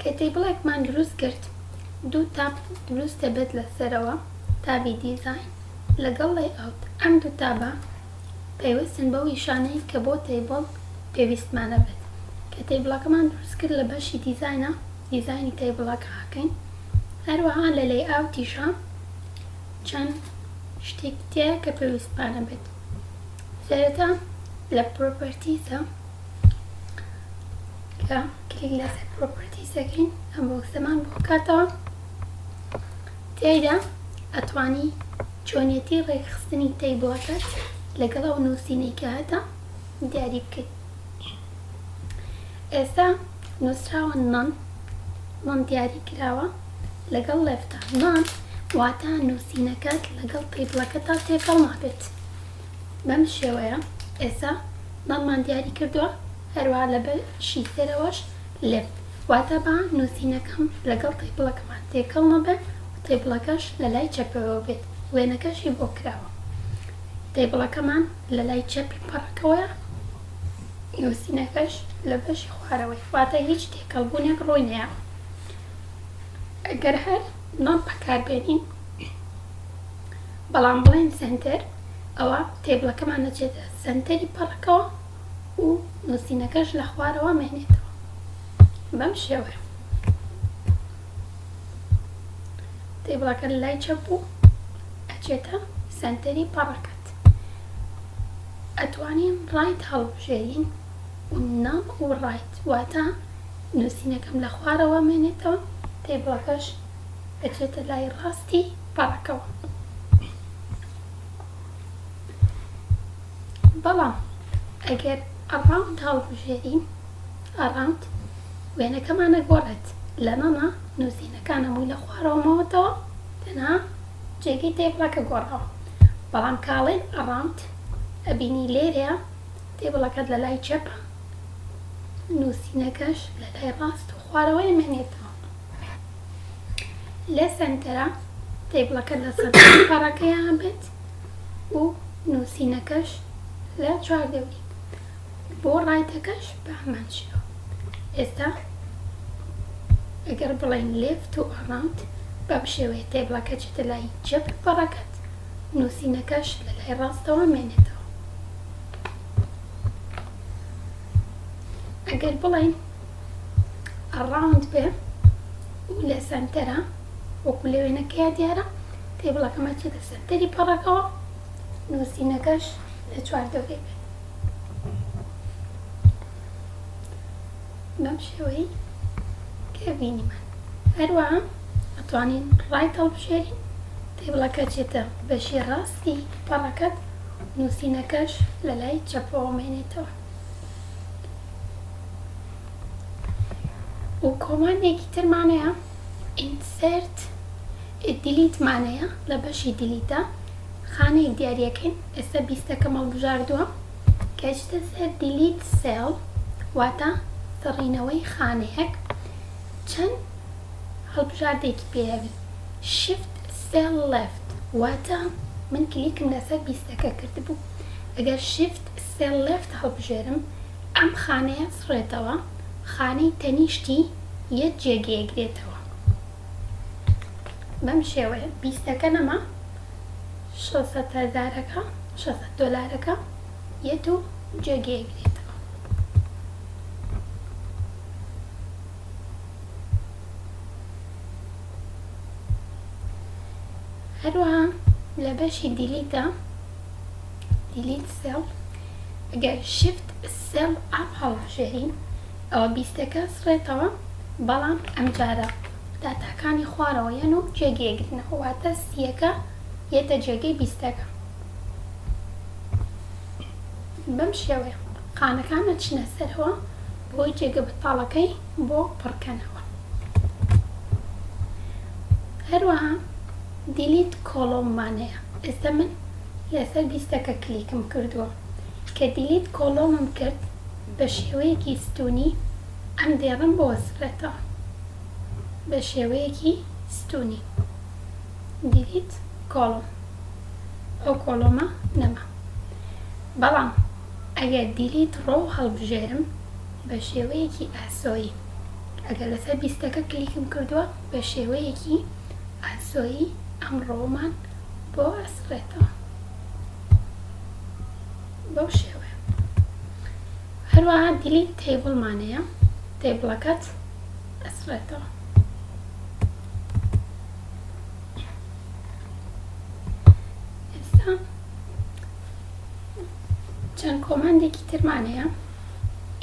کە تەیبڵێکمان دروست کرد دوو تاب دروست دەبێت لە سەرەوە تابی دیزاین لەگەڵ لەیئاوت ئەم دوو تابە پەیوەستن بەو ئیشانەی کە بۆ تەیبڵ پێویستمان ئەبێت کە تەیبڵەکەمان دروست کرد لە بەشی دیزاینە دیزاینی تەیبڵەکە ئەکەین هەروەها لە لەیئاوتیشا چەند شتێکی تیایە کە پێویستمانە بێت سەرەتا لە پرۆپەرتیسە. لە کلیک لەسەر پرۆپەرتیس دەکەین ئەم بۆکسەمان بۆ کاتەوە تیایدا ئەتوانی چۆنیەتی ڕێکخستنی تەیبڵەکەت لەگەڵ ئەو نووسینەی کە هەتە دیاری بکەیت ئێستا نووسراوە نان نان دیاری کراوە لەگەڵ لەفتە نان واتە نووسینەکەت لەگەڵ تەیبڵەکەتا تێکەڵ نابێت بەم شێوەیە ئێستا مەممان دیاری کردووە هەروەها لە بە شی سەرەوەش لب واتا با نووسینەکەم لەگەڵ تەیبڵەکەمان تێکەڵ نەبێ و تەیبڵەکەش لە لای چەپەوە بێت وێنەکەشی بۆ کراوە تەیبڵەکەمان لە لای چەپی پەڕەکەوەیە نووسینەکەش لە بەشی خوارەوەی واتا هیچ تێکەڵ بوونێک ڕووی نەیاوە ئەگەر هەر مەم بەکار بێنین بەڵام بڵێین سەنتەر ئەوا تێبڵەکەمان ئەچێتە سەنتەری پەڕەکەوە و نوسینەکەش لە خوارەوە مێنێتەوە بەم شێوەیە تێبڵەکە لای چەپ بوو ئەچێتە سەنتەری پەڕەکەت ئەتوانین ڕایت هەڵبژێرین و ناو و ڕایت واتە نوسینەکەم لە خوارەوە مێنێتەوە تێبڵەکەش ئەچێتە لای ڕاستی پاکەوە. بەڵام ئەگەر ئەڕاوند هەڵبژێرین، ئەڕاوند وێنەکەمان ئەگۆڕێت لە نەنە نووسینەکان هەمووی لە خوارەوە ماوەتەوە تەنها جێگەی تەیبڵە کە گۆڕاوە بەڵام کە ئەڵێین ئەڕاوند ئەبینی لێرەیە تەیبڵەکەت لە لای چەپە نووسینەکەش لە لای ڕاست و خوارەوەی مێنێتە لە سەنتەرە تەیبڵەکە لە سەنتەری پەڕەکەیا بێت و نووسینەکەش لە چوار دەوری بۆ ڕایتەکەش بە هەمان شێوە ئێستا ئەگەر بڵێین لێفت و ئەڕاوند بەم شێوەیە تەیبڵەکە چێتە لای چەپ پەڕەکەت نووسینەکەش لە لای ڕاستەوە مێنێتەوە ئەگەر بڵێین ئەڕاوند بێ و لە سەنتەرە وەکو لە وێنەکەیا دیارە تێبڵەکەمە چێتە سەنتەری پەڕەکەوە نووسینەکەش لە چوار دەورێ بێ بەم شێوەی کە بینیمان هەروە ئەتوانین ڕای هەڵبژێرین تێبڵەکە چێتە بەشی ڕاستی پەڕەکەت نووسینەکەش لە لای چەپەوە مێنێتەوە و کۆماندێکی ترمان هەیە insert delete مان هەیە لە بەشی دیلیت دا خانەی دیاریەکەین ئێستا بیستەکەم هەڵبژاردووە کە ئەچیتە سەر دیلیت سێڵ واتە سڕینەوەی خانەیەک چەند هەڵبژاردێکی پێوی شفت سێڵ لەفت واتە من کلیکم لەسەر بیستەکە کردبوو ئەگەر شفت سێ لێفت هەڵبژێرم ئەم خانەیە سڕێتەوە خانەی تەنیشتی یە جێگەیەک دێتەوە بەم شێوەیە بیستەکە نەما شەست هەزارەکە شەست دۆلارەکە یەت و جێگەیەک دێتەوە هەروەها لە بەشی دیلیتە دیلیت سێڵ گەر شیفت سێڵ ئاپ هەڵبژێرین ئەوە بیستەکە سڕێتەوە بەڵام ئەمجارە داتاکانی خوارەوە یەن و جێگەی ئەگرنەوە واتە سیەکە یەتە جێگەی بیستەکە بەم شێوەیە قانەکان ئەچنە سەرەوە بۆی جێگە بەتاڵەکەی بۆ پڕکەنەوە هەروەها دیلیت کۆڵۆمانەیە ئێستا من لەسەر لیستەکە کلیکم کردووە کە دیلیت کۆڵۆمم کرد بەشێوەیەکی ستونی ئەم دێڕم بۆ سڕێتەوە بەشێوەیەکی ستونی دیلیت کۆڵۆم ئەو کۆڵۆمە نەما بەڵام ئەگەر دیلیت ڕۆو هەڵبژێرم بەشێوەیەکی ئاسۆیی ئەگەر لەسەر لیستەکە کلیکم کردووە بە شێوەیەکی ئاسۆیی ئەمڕۆمان بۆ ئەسڕێتەوە بەو شێوەیە هەروەها دیلیت تەیبڵمان هەیە تەیبڵەکەت ئەسڕێتەوە ئێستا چەند کۆماندێکی ترمان هەیە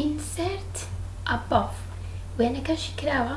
insert above وێنەکەشی کراوە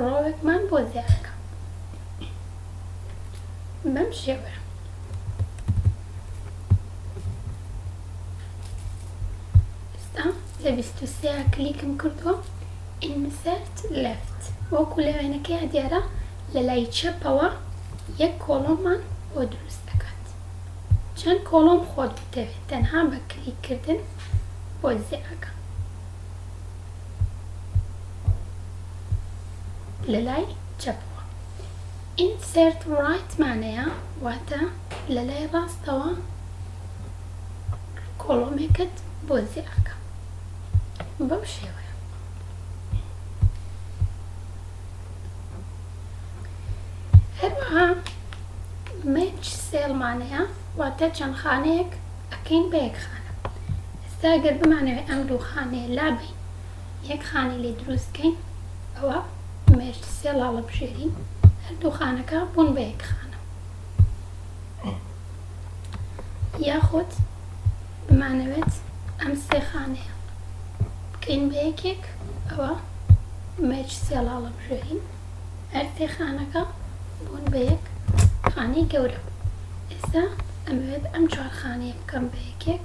ڕۆڵێکمان بۆ دیارەکە بەم شێوەیە. ئێستا لە بیست و سێ کلیکم کردووە ئینسەرت لێفت وەکو لە وێنەکەیا دیارە لە لای چەپەوە یەک کۆڵۆممان بۆ دروست دەکات چەند کۆڵۆم خۆت بتەوێت تەنها بە کلیک کردن بۆ دیارەکە. لەلای چەپەوە Insert Right مانەیە واتە لەلای ڕاستەوە کۆڵۆمێکت بۆ زیاکە بەم شێوەیە هەروەها Match Cell مانەیە واتە چەند خانەیەک ئەکەین بە یەک خانە ئێستا گەر بمانەوێ ئەم دوو خانەیە لابەین یەک خانەی لێ دروست کەین ئەوا مێرج سێ ڵاڵە بژێرین هەردوو خانەکە بوون بە یەک خانە یاخود بمانەوێت ئەم سێ خانەیە بکەین بە یەکێک ئەوە مێرج سێ ڵاڵە بژێرین هەر سێ خانەکە بوون بە یەک خانەی گەورە ئێستا ئەمەوێت ئەم چوار خانەیە بکەم بە یەکێک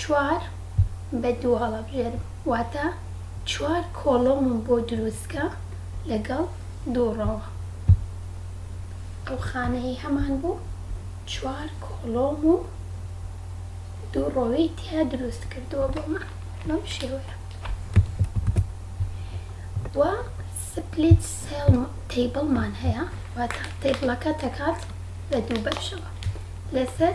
چوار بە دوو هەڵەبژێرم واتە چوار کۆڵۆمم بۆ دروستکە لەگەڵ دوو ڕۆوە ئەو خانەیەی هەمان بوو چوار کۆڵۆم و دوو ڕۆوی تیا دروست کردووە بۆمان بەم شێوەیە و سپلیت سێڵ تیبڵمان هەیە واتە تیبڵەکە دەکات بە دوو بەشەوە لەسەر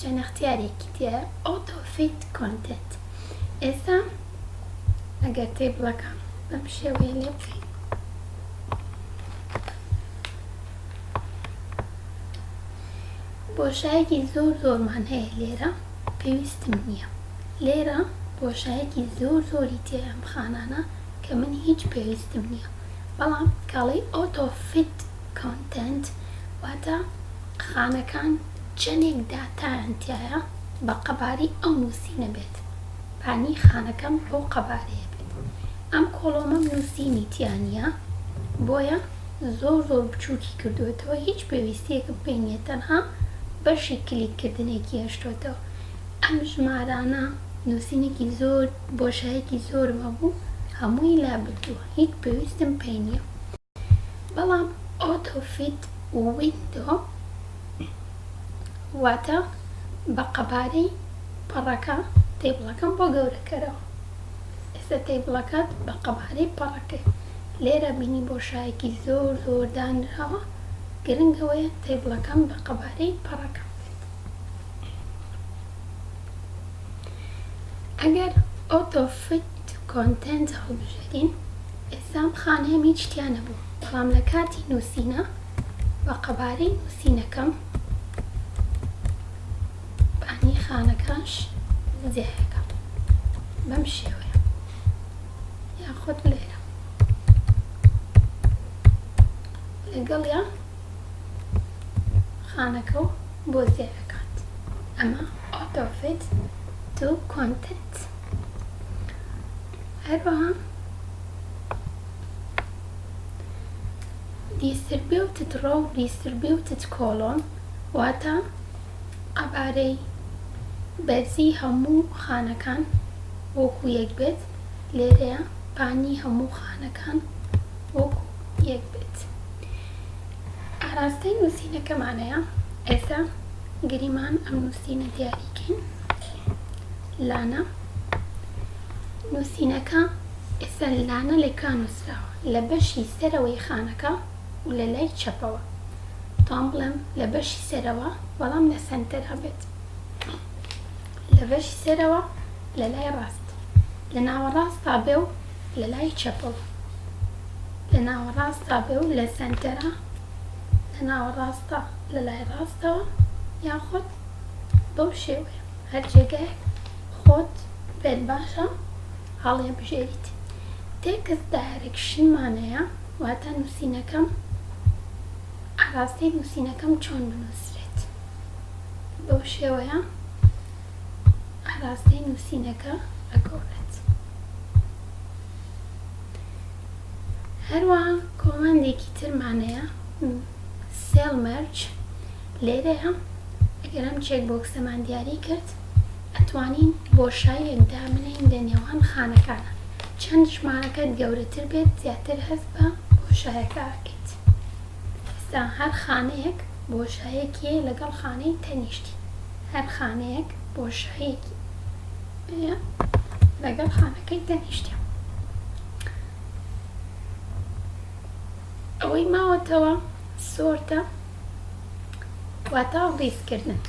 جەنەختیارێکی دیار ئۆتۆفیت کۆنتێنت ئێستا ئەگەر تەیبڵەکە بەم شێوەیە لێ بکەین بۆشایەکی زۆر زۆرمان هەیە لێرە پێویستم نییە لێرە بۆشایەکی زۆر زۆری تێ ئەم خانانە کە من هیچ پێویستم نییە بەڵام کاڵی ئۆتۆفیت Content، واتە خانەکان چەندێک داتایان تیایە بە قەبارەی ئەو نووسینە بێت بانی خانەکەم بەو قەبارەیە بێت ئەم کۆڵۆمەم نووسینی تیا نیە بۆیە زۆر زۆر بچووکی کردووەتەوە هیچ پێویستیەکم پێی نیە تەنها بەشی کلیک کردنێکی هێشتۆتەوە ئەم ژمارانە نووسینێکی زۆر بۆشایەکی زۆرم هەبوو هەمووی لابردووە هیچ پێویستم پێی نیە. بەڵام ئۆتۆ فیت ویندۆ واتە بە قەبارەی پەڕەکە تەیبڵەکەم بۆ گەورە کەرەوە ئێستا تەیبڵەکەت بە قەبارەی پەڕەکە لێرە بینی بۆشایەکی زۆر زۆر دانراوە گرنگ ئەوەیە تەیبڵەکەم بە قەبارەی پەڕەکەم بێت ئەگەر ئۆتۆ فیت کۆنتێنت هەڵبژێرین لەم خانەم هیچ تیا نەبوو، بەڵام لە کاتی نووسینە بە قەبارەی نووسینەکەم بانی خانەکانش زیایەکەم بەم شێوەیە یاخود لێرە لەگەڵیا خانەکە و بۆ زیایەکات ئەمە ئۆتۆفیت تو کۆنتنت هەروەها دیستربیوتد ڕۆ و دیستربیوتد کۆڵۆم واتە قەبارەی بەرزی هەموو خانەکان وەکو یەک بێت لێرەیە پانی هەموو خانەکان وەکو یەک بێت ئاراستەی نوسینەکەمانەیە ئێستا گریمان ئەم نوسینە دیاری کەین. لانە، نووسینەکە ئێستا لانە لەکوێ نووسراوە؟ لە بەشی سەرەوەی خانەکە و لە لای چەپەوە. تام بڵێم لە بەشی سەرەوە بەڵام لە سەنتەرا بێت. لە بەشی سەرەوە لە لای ڕاست. لە ناوەڕاستا بێ و لە لای چەپەوە. لە ناوەڕاستا بێ و لە سەنتەرا. لە ناوەڕاستا لە لای ڕاستەوە یاخود بەو شێوەیە هەر جێگایەک خۆت پێت باشە هەڵیبژێریت. تێکست دایرێکشن مانەیە واتە نووسینەکەم ئاراستەی نووسینەکەم چۆن بنووسرێت بەو شێوەیە ئاراستەی نووسینەکە ئەگۆڕێت. هەروەها کۆماندێکی تر مانەیە سێڵ مەرج لێرەیە ئەگەر ئەم چێک بۆکسەمان دیاری کرد ئەتوانین بۆشاییەک دابنێین لە نێوان خانەکانە چەند ژمارەکەت گەورەتر بێت زیاتر هەست بە بۆشایەکە ئەکەیت ئێستا هەر خانەیەک بۆشایەکیە لەگەڵ خانەی تەنیشتی هەر خانەیەک بۆشایەکی پێیە لەگەڵ خانەکەی تەنیشتە ئەوەی ماوەتەوە سۆرتە واتا ڕیز کردن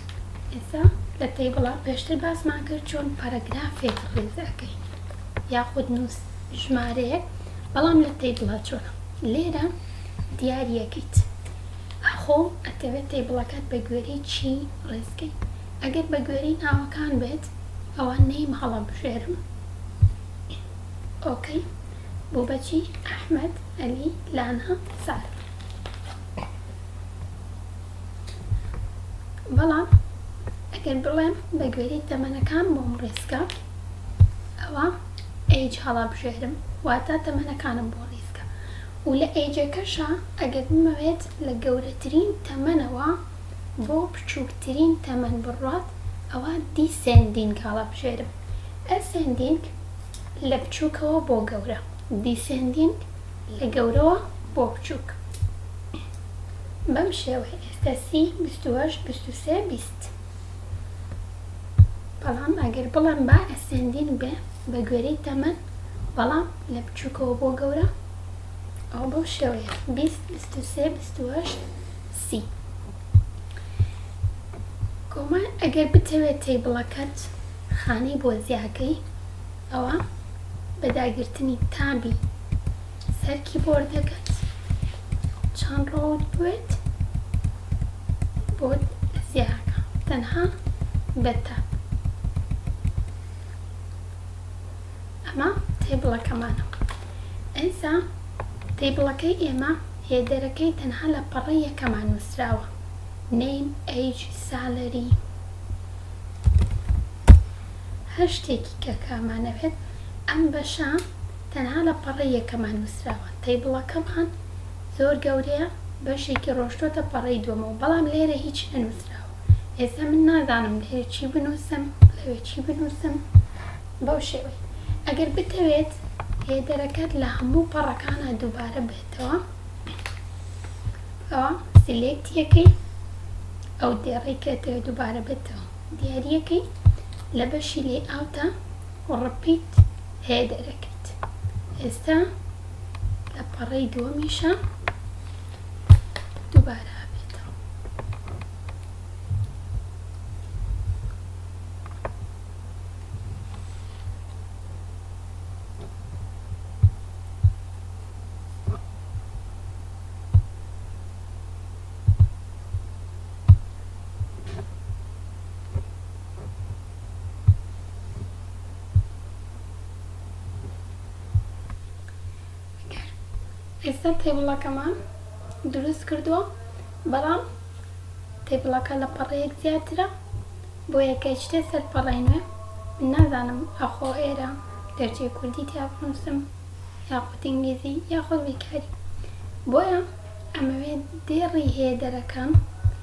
ئێسا لە تەیبڵا پێشتر باسمان کرد چۆن پەرەگرافێک ڕیز ئەکەین یاخود نووس ژمارەیەک بەڵام لە تەیبڵا چۆنە لێرە دیاریەکەیت ئاخۆ ئەتەوێت تەیبڵەکەت بە گوێری چی ڕێزکەی ئەگەر بە گوێری ناوەکان بێت ئەوان نیم هەڵە بژێرم ئۆکەی بۆ بەچی ئەحمد ئەلی لانا سارا بەڵام ئەگەر بڵێم بە گوێرەی تەمەنەکان بۆم ڕیسکە ئەوا ئەیج هەڵابژێرم واتە تەمەنەکانم بۆ ڕیسکە و لە ئەیجەکەشا ئەگەر بمەوێت لە گەورەترین تەمەنەوە بۆ بچووکترین تەمەن بڕوات ئەوا دیسێندینگ هەڵەبژێرم ئەسێندینگ لە بچووکەوە بۆ گەورە دیسێندینگ لە گەورەوە بۆ بچووک بەم شێوەیە ئێستە سی بیست و هەشت بیست و سێ بیست بەڵام ئەگەر بڵێم با ئەسێندین بێ بە گوێرەی تەمەن بەڵام لە بچووکەوە بۆ گەورە ئەو بەو شێوەیە بیست بیست و سێ بیست و هەشت سی کۆمان ئەگەر بتەوێت تەیبڵەکەت خانەی بۆ زیاکەی ئەوا بە داگرتنی تابی سەر کیبۆردەکەت چەند ڕەوت بوێت بۆت زیاکە تەنها بە تاب ئەمە تەیبڵەکەمانە ئەیسا تەیبڵەکەی ئێمە هێدەرەکەی تەنها لە پەڕەی یەکەمان نوسراوە name age salary هەر شتێکی کە کامانەوێت، ئەم بەشە تەنها لە پەڕەی یەکەمان نووسراوە، تەیبڵەکەمان زۆر گەورەیە، بەشێکی ڕۆشتۆتە پەڕەی دووەمەوە، بەڵام لێرە هیچ نەنووسراوە، ئێستا من نازانم لێرە چی بنووسم، لەوێ چی بنووسم، بەو شێوەیە. ئەگەر بتەوێت هێدەرەکەت لە هەموو پەڕەکانا دووبارە بێتەوە، ئەوا سیلێکتیەکەی ئەو دێڕەی کە دەتەوێت دووبارە بێتەوە. دیاریەکەی لە بەشی لەیئاوتە و ڕپیت هەیە دەرەکەیت ئێستا لە پەڕەی دووەمیشە دووبارە ئەبێتەوە. ئێستا تێبڵەکەمان دروست کردووە بەڵام تێبڵەکە لە پەڕەیەک زیاترە بۆ یەکە شتێ سەر پەڕەی نوێ من نازانم ئەخۆ ئێرە گەرچی کوردی تیا بنووسم یاخود ئینگلیزی یاخود بیکاری بۆیە ئەمەوێت دێڕی هێدەرەکەم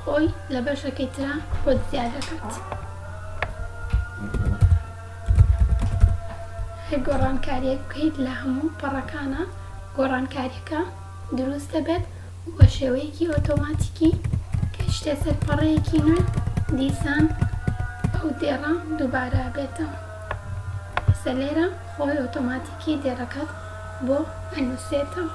خۆی لە بەشەکەی ترا خۆت زیاد دەکات هەر گۆڕانکاریەک بکەیت لە هەموو پەڕەکانە گۆڕانکاریەکە دروست دەبێت بە شێوەیەکی ئۆتۆماتیکی کەشتە سەر پەڕەیەکی نوێ دیسان ئەو دێڕە دووبارە بێتەوە سە لێرە خۆی ئۆتۆماتیکی دێڕەکەت بۆ ئەنووسێتەوە